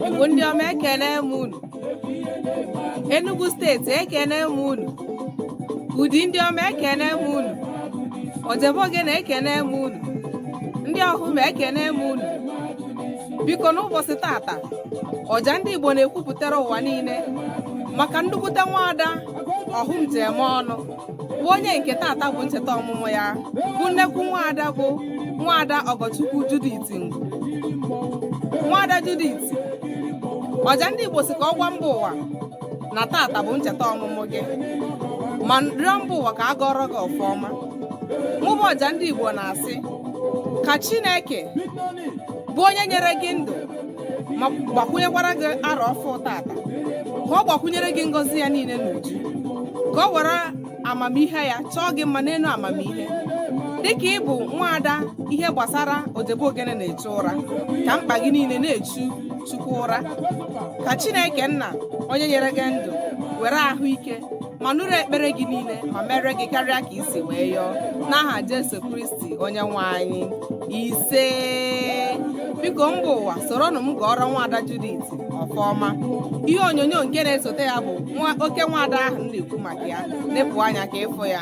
Igbo ndị ọma ekene m unu Enugu steeti ekene m unu Udi ndị ọma ekene m unu Ojebe Ogene ekene m unu ndị Ọhụm ekene m unu biko n'ụbọchị tata ọja ndị Igbo na-ekwupụtara ụwa niile maka nnukwute nwaada Ọhụm ji eme ọnụ bụ onye nke tata bụ ncheta ọmụmụ ya bụ nnekwu nwaada bụ nwaada Ọgọchukwu Judith Ngwu nwaada Judith ọja ndị Igbo sị ka ọ gwa mba ụwa na tata bụ ncheta ọmụmụ gị ma rịọ mba ụwa ka a gọọrọ gị ọfọ ọma mụ bụ ọja ndị Igbo na-asị ka Chineke bụ onye nyere gị ndụ ma gbakwunyekwara gị arọ ọfụụ tata ka ọ gbakwunyere gị ngọzi ya niile n'uju ka ọ were amamihe ya chọọ gị mma n'elu amamihe dịka ị bụ nwaada ihe gbasara Ojebe Ogene na-echu ụra ka mkpa gị niile na-echu Chukwu ụra ka Chineke nna onye nyere gị ndụ were ahụike ma nụrụ ekpere gị niile ma mere gị karịa ka i si wee yọọ n'aha Jesu Kristi onye nwe anyị ise biko mba ụwa soronụ m gọọrọ nwaada Judith ọfọ ọma ihe onyonyo nke na-esote ya bụ oke nwaada ahụ m na-ekwu maka ya nepụ anya ka ị fụ ya